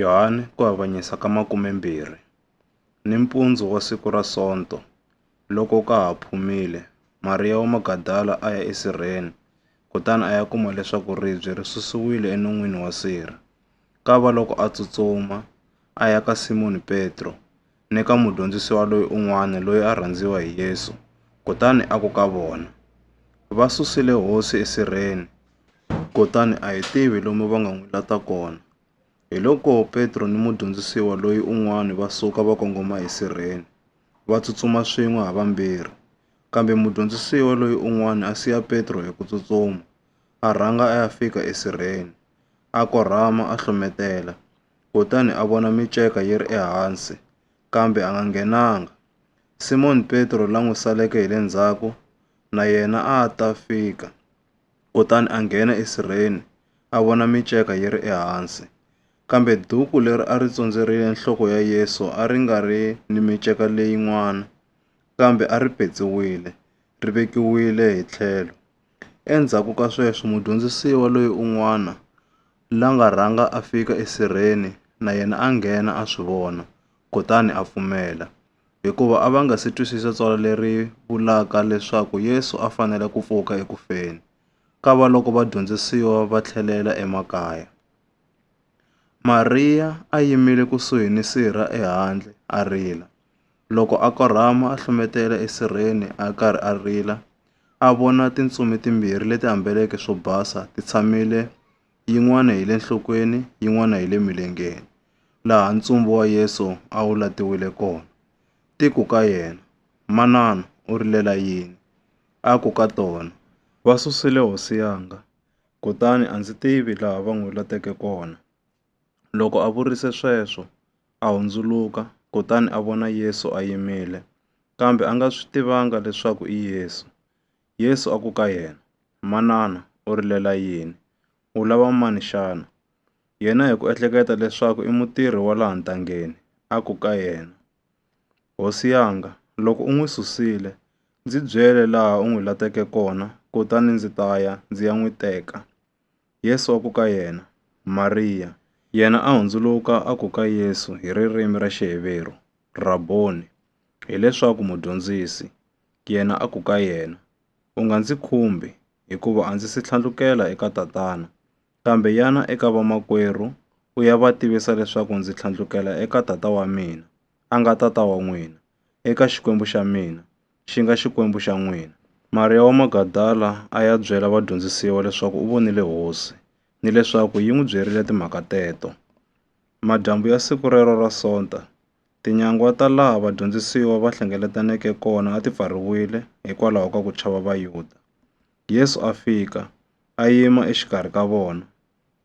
Yohane ku avanyisa ka makumembirhi, nimpundzu wa siku ra Sonto, loko ka ha phumile, Mariya wa Magadala a ya esirheni, kutani a ya kuma leswaku ribye ri susiwile enon'wini wa sirha. Kava loko a tsutsuma, a ya ka Simoni Petro, ni ka mudyondzisiwa loyi un'wana loyi a rhandziwa hi Yesu, kutani a ku ka vona, Va susile hosi esirheni, kutani a hi tivi lomu va nga n'wi lata kona. Hiloko Petro ni mudyondzisiwa loyi un'wana va suka va kongoma esirheni, va tsutsuma swin'we ha vambirhi. Kambe mudyondzisiwa loyi un'wana a siya Petro hi ku tsutsuma, a rhanga a ya fika esirheni, a korhama a hlometela. kutani a vona miceka yi ri ehansi, kambe a nga nghenanga. Simoni Petro la n'wi saleke hi le ndzhaku na yena a a ta fika, kutani a nghena esirheni, a vona miceka yi ri ehansi. Kambe duku leri a ri tsondzerile nhloko ya Yesu a ri nga ri ni miceka leyin'wana, kambe a ri petsiwile, ri vekiwile hi tlhelo. Endzhaku ka sweswo mudyondzisiwa loyi un'wana la nga rhanga a fika esirheni na yena a nghena a swi vona, kutani a pfumela. Hikuva a va nga si twisisa tsalwa leri vulaka leswaku Yesu a fanele ku pfuka eku feni, kavaloko vadyondzisiwa va tlhelela emakaya. Mariya a yimile kusuhi ni sirha ehandle a rila. Loko a korhama a hlumetela esirheni a karhi a rila, a vona tintsumi timbirhi leti ambeleke swo basa ti tshamile yin'wana hi le nhlokweni yin'wana hi le milengeni, laha ntsumbu wa Yesu a wu latiwile kona. Ti ku ka yena, Manana, u rilela yini? A ku ka tona, Va susile hosi yanga, kutani a ndzi tivi laha va n'wi lateke kona. Loko a vurise sweswo, a hundzuluka kutani a vona Yesu a yimile, kambe a nga swi tivanga leswaku i Yesu. Yesu a ku ka yena, Manana, u rilela yini? U lava mani xana? Yena hi ku ehleketa leswaku i mutirhi wa laha ntangeni, a ku ka yena, Hosi yanga, loko u n'wi susile, ndzi byele laha u n'wi lateke kona kutani ndzi ta ya ndzi ya n'wi teka. Yesu a ku ka yena, Mariya! Yena a hundzuluka a ku ka Yesu hi ririmi ra Xiheveru, Rabboni! hileswaku Mudyondzisi. Yena a ku ka yena, U nga ndzi khumbi, hikuva a ndzi si tlhandlukela eka Tatana, kambe yana eka vamakwerhu u ya va tivisa leswaku ndzi tlhandlukela eka Tata wa mina, a nga Tata wa n'wina, eka Xikwembu xa mina, xi nga Xikwembu xa n'wina. Mariya wa Magadala a ya byela vadyondzisiwa leswaku u vonile Hosi ni leswaku yi n'wi byerile timhaka teto. Madyambu ya siku rero ra Sonta, tinyangwa ta laha vadyondzisiwa va hlengeletaneke kona a ti pfariwile hikwalaho ka ku chava Vayuda. Yesu a fika, a yima exikarhi ka vona,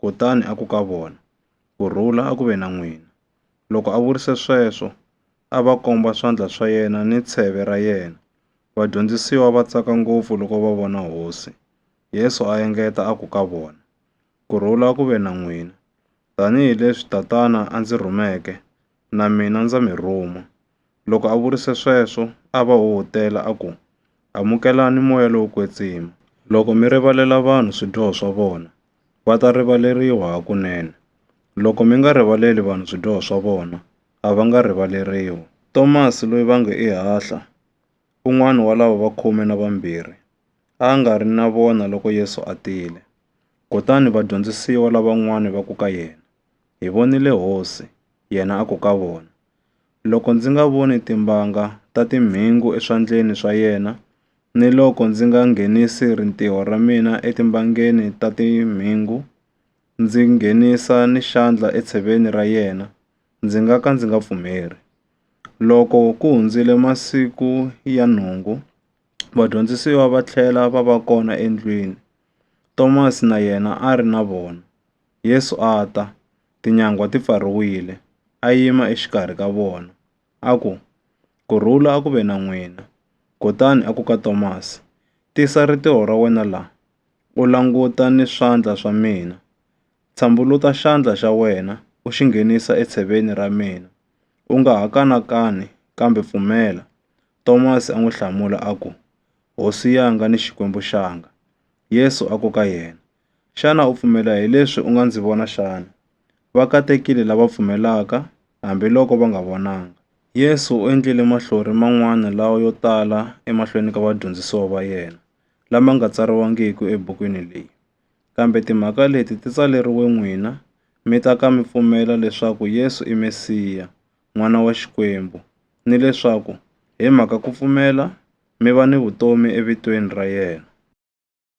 kutani a ku ka vona, Ku rhula a ku ve na n'wina! Loko a vurise sweswo, a va komba swandla swa yena ni tsheve ra yena. Vadyondzisiwa va tsaka ngopfu loko va vona Hosi. Yesu a engeta a ku ka vona, Ku rhula ku ve na n'wina! Tanihi leswi Tatana a ndzi rhumeke, na mina ndza mi rhuma. Loko a vurise sweswo, a va huhutela a ku, Amukelani moya lowo kwetsima. Loko mi rivalela vanhu swidyoho swa vona, va ta rivaleriwa hakunene. Loko mi nga rivaleli vanhu swidyoho swa vona, a va nga rivaleriwi. Tomasi loyi va nge i Hahla, un'wana wa lava va khume na vambirhi, a a nga ri na vona loko Yesu a tile. Kutani vadyondzisiwa lavan'wana va ku ka yena, Hi vonile Hosi! Yena a ku ka vona, Loko ndzi nga voni timbanga ta timhingu eswandleni swa yena, ni loko ndzi nga nghenisi rintiho ra mina etimbangeni ta timhingu, ndzi nghenisa ni xandla etsheveni ra yena, ndzi nga ka ndzi nga pfumeli. Loko ku hundzile masiku ya nhungu, vadyondzisiwa va tlhela va va kona endlwini, Tomasi na yena a ri na vona. Yesu a ta, tinyangwa ti pfariwile, a yima exikarhi ka vona, a ku, Ku rhula a ku ve na n'wina. Kutani a ku ka Tomasi, Tisa ritiho ra wena laha, u languta ni swandla swa mina. Tshambuluta xandla xa wena u xi nghenisa etsheveni ra mina, u nga ha kanakani kambe pfumela. Tomasi a n'wi hlamula a ku, Hosi yanga ni Xikwembu xanga! Yesu a ku ka yena, Xana u pfumela hi leswi u nga ndzi vona xana? Va katekile lava pfumelaka, hambi loko va nga vonanga. Yesu u endlile mahlori man'wana lawa yo tala emahlweni ka vadyondzisiwa va yena, lama nga tsariwangiki ebukwini leyi. Kambe timhaka leti ti tsaleriwe n'wina, mi ta ka mi pfumela leswaku Yesu i Mesiya, N'wana wa Xikwembu, ni leswaku hi mhaka ku pfumela, mi va ni vutomi evitweni ra yena.